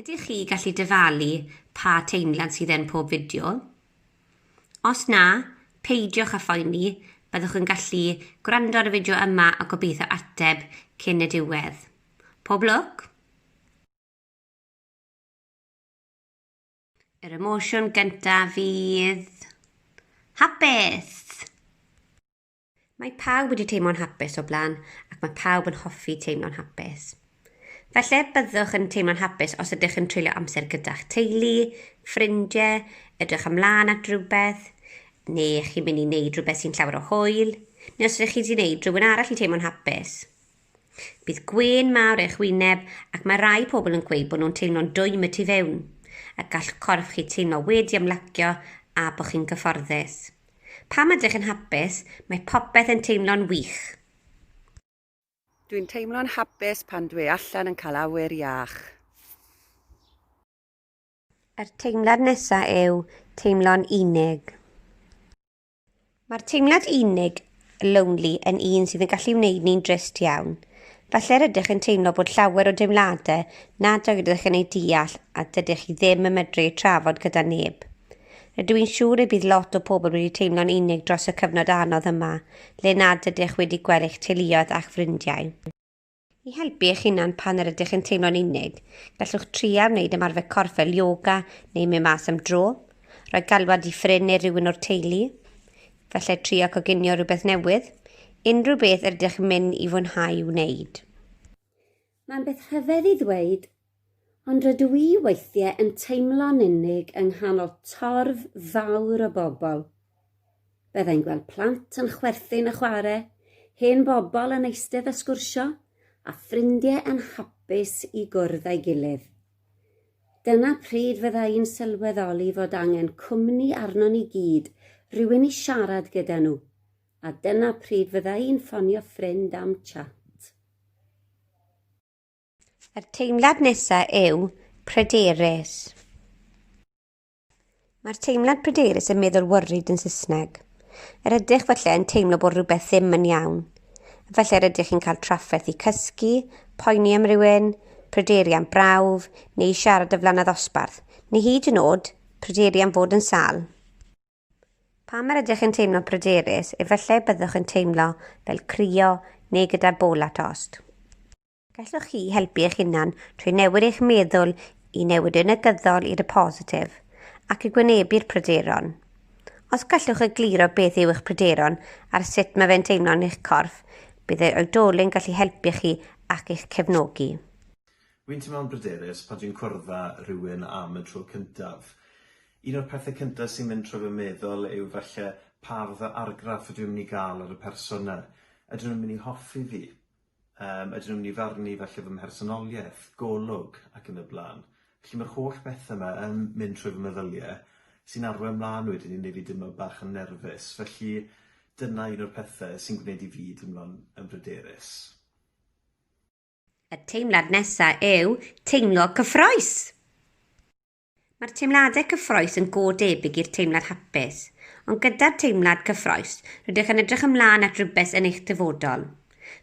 Ydych chi gallu dyfalu pa teimlad sydd yn pob fideo? Os na, peidiwch â phoeni, byddwch yn gallu gwrando ar y fideo yma a gobeithio ateb cyn y diwedd. Pob lwc! Yr emosiwn gyntaf fydd... hapus! Mae pawb wedi teimlo'n hapus o blaen ac mae pawb yn hoffi teimlo'n hapus. Felly, byddwch yn teimlo'n hapus os ydych yn treulio amser gyda'ch teulu, ffrindiau, edrych ymlaen at rhywbeth, neu chi'n mynd i wneud rhywbeth sy'n llawer o hwyl, neu os ydych chi wedi gwneud rhywun arall i teimlo'n hapus. Bydd gwên mawr eich wyneb ac mae rai pobl yn gweud bod nhw'n teimlo'n dwym y tu fewn, a gall corff chi teimlo wedi ymlacio a bod chi'n gyfforddus. Pam ydych yn hapus? Mae popeth yn teimlo'n wych! Dwi'n teimlo'n hapus pan dwi allan yn cael awyr iach. Yr teimlad nesa yw teimlo'n unig. Mae'r teimlad unig, lonely, yn un sydd yn gallu wneud ni'n drist iawn. Falle'r ydych yn teimlo bod llawer o deimladau nad oeddech yn eu deall a dydych chi ddim yn medru eu trafod gyda neb. Rydw i'n siŵr y bydd lot o pobl wedi teimlo'n unig dros y cyfnod anodd yma, le nad ydych wedi gweld eich teuluoedd a'ch ffrindiau. I helpu eich hunan pan yr ydych yn teimlo'n unig, gallwch tria wneud ymarfer corff fel yoga neu mynd mas am dro, rhoi galwad i ffrind neu rhywun o'r teulu, felly trio coginio rhywbeth newydd, unrhyw beth yr ydych yn mynd i fwynhau wneud. Mae'n beth rhyfedd i ddweud Ond rydw i weithiau yn teimlo'n unig yng nghanol torf fawr o bobl. Byddai'n gweld plant yn chwerthin a chwarae, hen bobl yn eistedd a sgwrsio, a ffrindiau yn hapus i gwrdd â'i gilydd. Dyna pryd fydda i'n sylweddoli fod angen cwmni arnon ni gyd, rhywun i siarad gyda nhw, a dyna pryd fydda i'n ffonio ffrind am chat. Yr teimlad nesa yw pryderus. Mae'r teimlad pryderus yn meddwl worried yn Saesneg. Yr ydych felly yn teimlo bod rhywbeth ddim yn iawn. Felly yr ydych chi'n cael trafferth i cysgu, poeni am rywun, pryderu am brawf, neu siarad y flannad osbarth, neu hyd yn oed pryderu am fod yn sal. Pam yr ydych yn teimlo pryderus, efallai byddwch yn teimlo fel crio neu gyda bol at ost. Gallwch chi helpu eich hunan trwy newid eich meddwl i newid y negyddol i'r positif ac i gwynebu'r pryderon. Os gallwch egluro beth yw eich pryderon ar sut mae fe'n teimlo yn eich corff, bydd yr oedolyn gallu helpu chi ac eich cefnogi. Rwy'n teimlo'n bryderus pan dwi'n cwrdd â rhywun am y tro cyntaf. Un o'r pethau cyntaf sy'n mynd trwy fy meddwl yw falle pa fath o argraff ydw i'n mynd i gael ar y person 'na. Ydyn nhw'n mynd i hoffi fi? Yym, ydyn nhw'n mynd i farnu falle fy mhersonoliaeth, golwg, ac yn y blaen. Felly mae'r holl bethau yma yn mynd trwy fy meddyliau, sy'n arwain mlaen wedyn i wneud fi deimlo bach yn nerfus. Felly dyna un o'r pethau sy'n gwneud i fi deimlo'n yn bryderus. Y teimlad nesaf yw teimlo cyffrous. Mae'r teimladau cyffroes yn go debyg i'r teimlad hapus, ond gyda'r teimlad cyffroes, rydych yn edrych ymlaen at rywbeth yn eich dyfodol.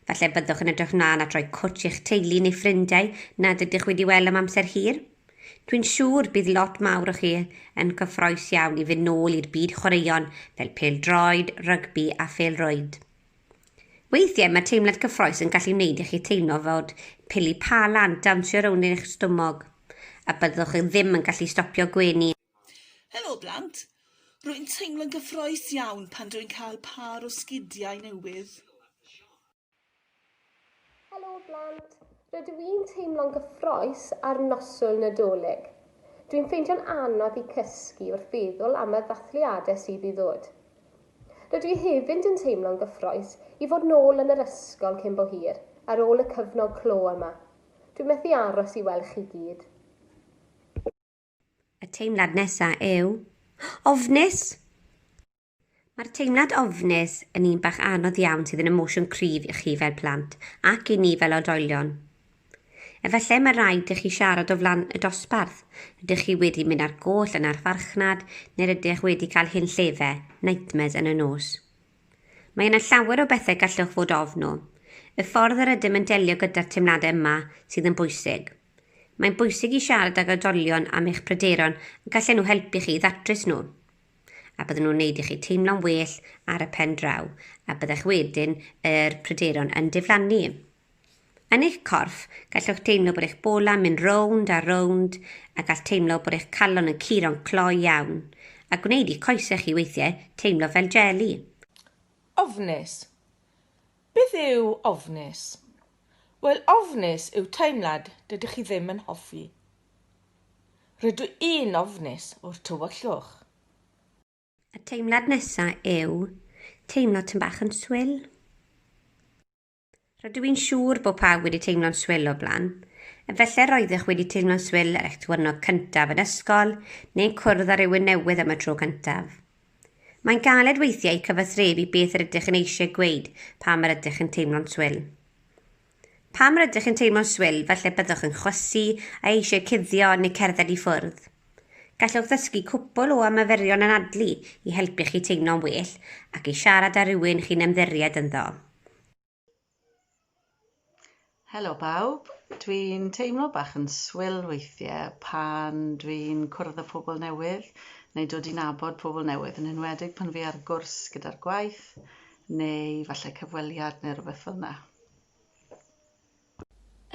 Falle byddwch yn edrych ymlaen at roi cwtsh i'ch teulu neu ffrindiau nad ydych wedi weld am amser hir. Dwi'n siŵr bydd lot mawr o chi yn gyffroes iawn i fynd nôl i'r byd chwaraeon fel pêl-droed, rygbi a phêl-rwyd. Weithiau mae teimlad cyffroes yn gallu wneud i chi teimlo fod pili pa lan dawnsio rownd eich stumog, a byddwch chi ddim yn gallu stopio gwenu. Helo blant! Rwy'n teimlo'n gyffroes iawn pan dw i'n cael pâr o sgidiau newydd. Helo blant! Rydw i'n teimlo'n gyffrous ar noswyl Nadolig. Dwi'n ffeindio'n anodd i cysgu wrth feddwl am y ddathliadau sydd i ddod. Rydw i hefyd yn teimlo'n gyffrous i fod nôl yn yr ysgol cyn bo hir, ar ôl y cyfnod clo yma. Dwi methu aros i weld chi gyd. Y teimlad nesaf yw ofnus. Mae'r teimlad ofnus yn un bach anodd iawn sydd yn emosiwn cryf i chi fel plant ac i ni fel oedolion. Efallai mae rhaid i chi siarad o flan y dosbarth, ydych chi wedi mynd ar goll yn ar farchnad neu rydych wedi cael hyn llefe, nightmares yn y nos. Mae yna llawer o bethau gallwch fod ofn nhw. Y ffordd yr ydym yn delio gyda'r teimladau yma sydd yn bwysig. Mae'n bwysig i siarad ag oedolion am eich pryderon ac allan nhw helpu chi i ddatrys nhw. A bydden nhw'n wneud i chi teimlo'n well ar y pen draw, a byddech wedyn yr pryderon yn diflannu. Yn eich corff, gallwch deimlo bod eich bolau'n mynd rownd a rownd a gall teimlo bod eich calon yn curo'n cloi iawn, a gwneud i coesau chi weithiau teimlo fel jeli. Ofnus. Beth yw ofnus? Wel, ofnus yw teimlad dydych chi ddim yn hoffi. Rydw i'n ofnus o'r tywyllwch. Y teimlad nesaf yw teimlo tym bach yn swil. Rydw i'n siŵr bod pawb wedi teimlo'n swil o blaen. Efallai roeddech wedi teimlo'n swil ar eich diwrnod cyntaf yn ysgol neu'n cwrdd â rhywun newydd am y tro cyntaf. Mae'n galed weithiau cyfathrebu beth yr ydych yn eisiau gweud pam yr ydych yn teimlo'n swil. Pam yr ydych yn teimlo'n swil, falle byddwch yn chwysu a eisiau cuddio neu cerdded i ffwrdd. Gallwch ddysgu cwpl o ymaferion anadlu i helpu chi teimlo'n well ac i siarad â rhywun chi'n ymddiried ynddo. Helo bawb, dwi'n teimlo bach yn swil weithiau pan dwi'n cwrdd â phobl newydd neu dod i nabod pobl newydd, yn enwedig pan fi ar gwrs gyda'r gwaith neu falle cyfweliad neu rhywbeth fel yna.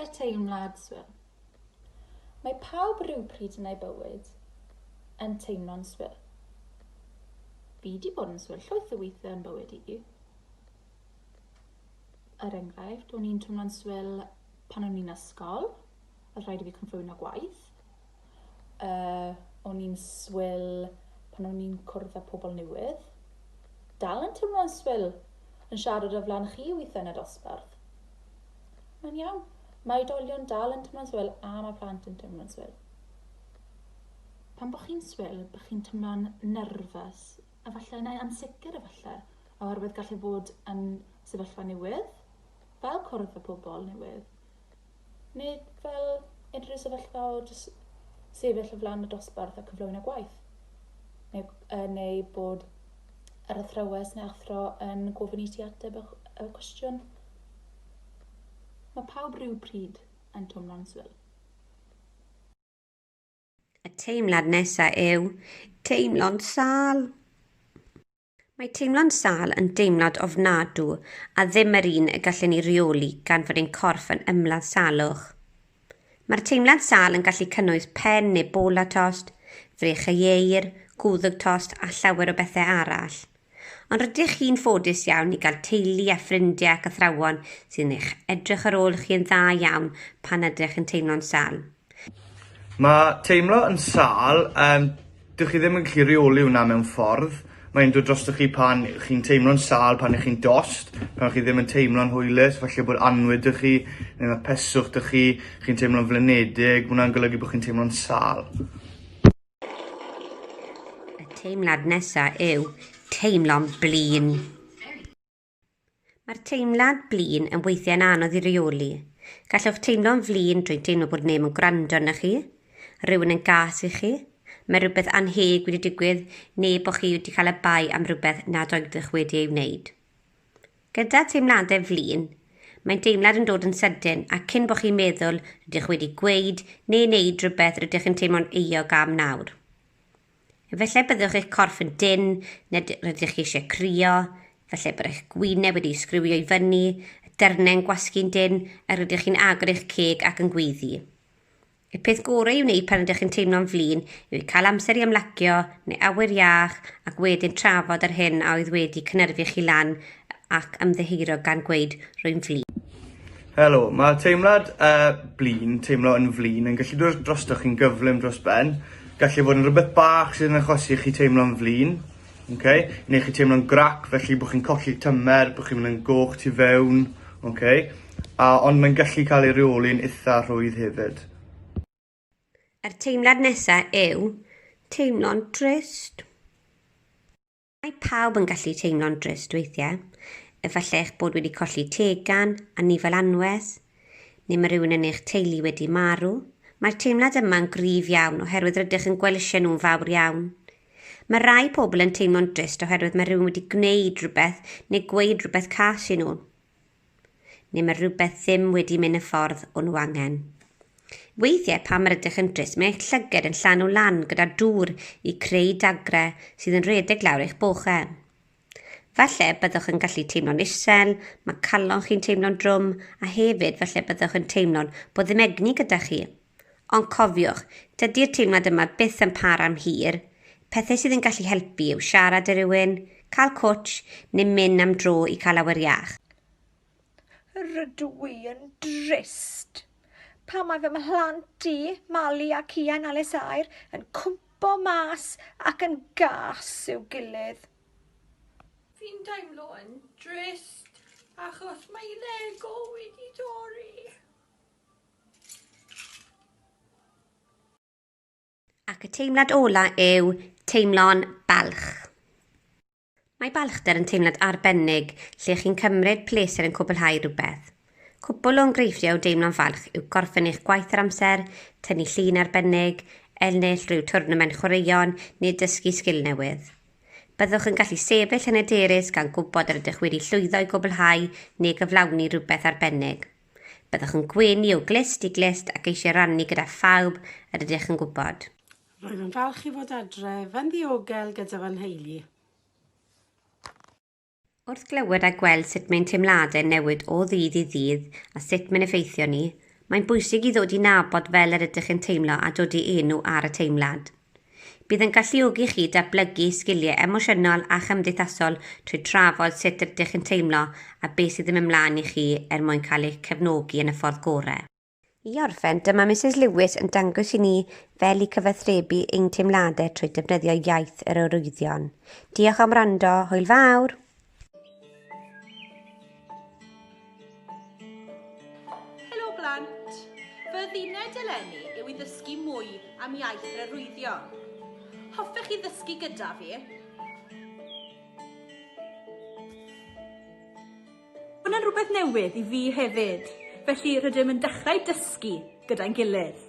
Er teimlad swil. Mae pawb rywpryd yn eu bywyd yn teimlo'n swil. Fi 'di bod yn swil llwyth o weithiau yn bywyd i. Er enghraifft, o'n i'n twmlo'n swil pan o'n i'n ysgol, oedd rhaid i fi cyflwyno gwaith. uh, o'n i'n swil pan o'n i'n cwrdd â pobl newydd. Dal yn teimlo'n swil yn siarad o flan chi weithiau yn y dosbarth. Mae'n iawn. Mae oedolion dal yn teimlo'n swil a mae plant yn teimlo'n swil. Pan bod chi'n swil, bod chi'n teimlo'n nerfus, efallai neu ansicr efallai, oherwydd gallu bod yn sefyllfa newydd, fel cwrdd y pobl newydd. Nid fel unrhyw sefyllfa o jyst sefyll o flaen y dosbarth a cyflwyno gwaith, neu, neu bod yr athrawes neu athro yn gofyn i ti ateb y, y cwestiwn. Mae pawb rhyw pryd yn twmlo'n swil. Y teimlad nesa yw teimlo'n sâl. Mae teimlo'n sâl yn deimlad ofnadw a ddim yr un y gallwn ni reoli gan fod ein corff yn ymladd salwch. Mae'r teimlad sâl yn gallu cynnwys pen neu bola tost, frech a ieir, gwddg tost a llawer o bethau arall. Ond rydych chi'n ffodus iawn i gael teulu a ffrindiau ac athrawon sy'n eich edrych ar ôl chi yn dda iawn pan ydych yn teimlo'n sâl. Ma' teimlo yn sâl yym dych chi ddim yn gallu reoli wnna mewn ffordd, ma' e'n dod drostoch chi pan chi'n teimlo'n sâl pan 'ych chi'n dost, pan chi ddim yn teimlo'n hwylus, falle bod annwyd 'da chi ne' ma' peswch 'da chi, chi'n teimlo'n flinedig, ma' wnna'n golygu bo' chi'n teimlo'n sâl. Y teimlad nesa yw teimlo'n blin. Mae'r teimlad blin yn weithiau'n anodd i reoli. Gallwch teimlo'n flin drwy'n teimlo bod neb yn gwrando arnoch chi, rhywun yn gas i chi, mae rhywbeth annheg wedi digwydd neu bod chi wedi cael y bai am rhywbeth nad oeddech wedi ei wneud. Gyda teimladau flin, mae'n deimlad yn dod yn sydyn ac cyn bod chi'n meddwl rydych wedi gweud neu wneud rhywbeth rydych yn teimlo'n euog am nawr. Efallai byddwch eich corff yn dynn, neu rydych chi eisiau crio, efallai bod eich gwyneb wedi sgriwio i fyny, y dyrnau yn gwasgu'n dynn, a rydych chi'n agor eich ceg ac yn gweiddi. Y peth gorau i'w wneud pan ydych chi'n teimlo'n flin yw cael amser i ymlacio neu awyr iach ac wedyn trafod yr hyn a oedd wedi cynyrfu chi lan ac ymddiheuro gan gweud, rwy'n flin. Helo, mae teimlad uh, blin, teimlo yn flin, yn gallu dod drostoch chi'n gyflym dros ben. Gallu fod yn rhywbeth bach sy'n achosi chi teimlo'n flin, okay? neu chi teimlo'n grac, felly bod chi'n colli tymer, bod chi'n mynd yn goch tu fewn, okay? A, ond mae'n gallu cael ei reoli'n eitha rhwydd hefyd. Yr teimlad nesaf yw teimlo'n trist. Mae pawb yn gallu teimlo'n drist weithiau. Efallai eich bod wedi colli tegan, anifail anwes, neu mae rhywun yn eich teulu wedi marw. Mae'r teimlad yma'n gryf iawn oherwydd rydych yn gwelisio nhw'n fawr iawn. Mae rhai pobl yn teimlo'n drist oherwydd mae rhywun wedi gwneud rhywbeth neu gweud rhywbeth cas i nhw. neu mae rhywbeth ddim wedi mynd y ffordd o'n nhw angen. Weithiau pan mae'r ydych yn drist, mae eich llyged yn llanw lan gyda dŵr i creu dagrau sydd yn rhedeg lawr eich bochau. Falle byddwch yn gallu teimlo'n isel, mae calon chi'n teimlo'n drwm, a hefyd falle byddwch yn teimlo'n bod ddim egni gyda chi. Ond cofiwch, dydi'r teimlad yma byth yn para am hir. Pethau sydd yn gallu helpu yw siarad â rhywun, cael cwtsh, neu mynd am dro i cael awyr iach. Rydw i yn drist pan mae fy mhlant i, Mali a Cian Alessair, yn cwmpo mas ac yn gas i'w gilydd. Fi'n teimlo yn drist achos mae Lego wedi torri. Ac y teimlad ola yw teimlo'n balch. Mae balchder yn teimlad arbennig lle chi'n cymryd pleser yn cwblhau rhywbeth. Cwpl o engreifftiau o deimlo'n falch yw gorffen eich gwaith ar amser, tynnu llun arbennig, ennill rhyw twrnament chwaraeon neu dysgu sgil newydd. Byddwch yn gallu sefyll yn hyderus gan gwybod yr ydych wedi llwyddo i gwblhau neu gyflawni rhywbeth arbennig. Byddwch yn gwenu o glust i glust ac eisiau rannu gyda phawb yr ydych yn gwybod. Rwyf yn falch i fod adref yn ddiogel gyda fy nheulu. Wrth glywed a gweld sut mae'n teimladau'n newid o ddydd i ddydd a sut mae'n effeithio ni, mae'n bwysig i ddod i nabod fel yr ydych yn teimlo a dod i enw ar y teimlad. Bydd yn galluogi chi datblygu sgiliau emosiynol a chymdeithasol trwy trafod sut rydych chi'n teimlo a beth sydd yn mynd mlaen i chi er mwyn cael eich cefnogi yn y ffordd gorau. I orffen, dyma Misus Lewis yn dangos i ni fel i cyfathrebu ein teimladau trwy defnyddio iaith yr arwyddion. Diolch am wrando, hwyl fawr! Helo blant! Fy ddined eleni yw i ddysgu mwy am iaith yr arwyddion. Hoffech chi ddysgu gyda fi? Hwna'n rhywbeth newydd i fi hefyd, felly rydym yn dechrau dysgu gyda'n gilydd.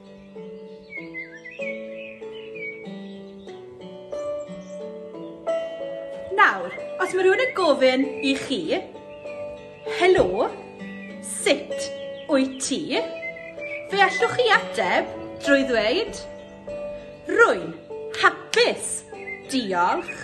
Nawr, os mae rhywun yn gofyn i chi, helo, sut wyt ti? Fe allwch chi ateb drwy ddweud, rwy'n hapus, diolch.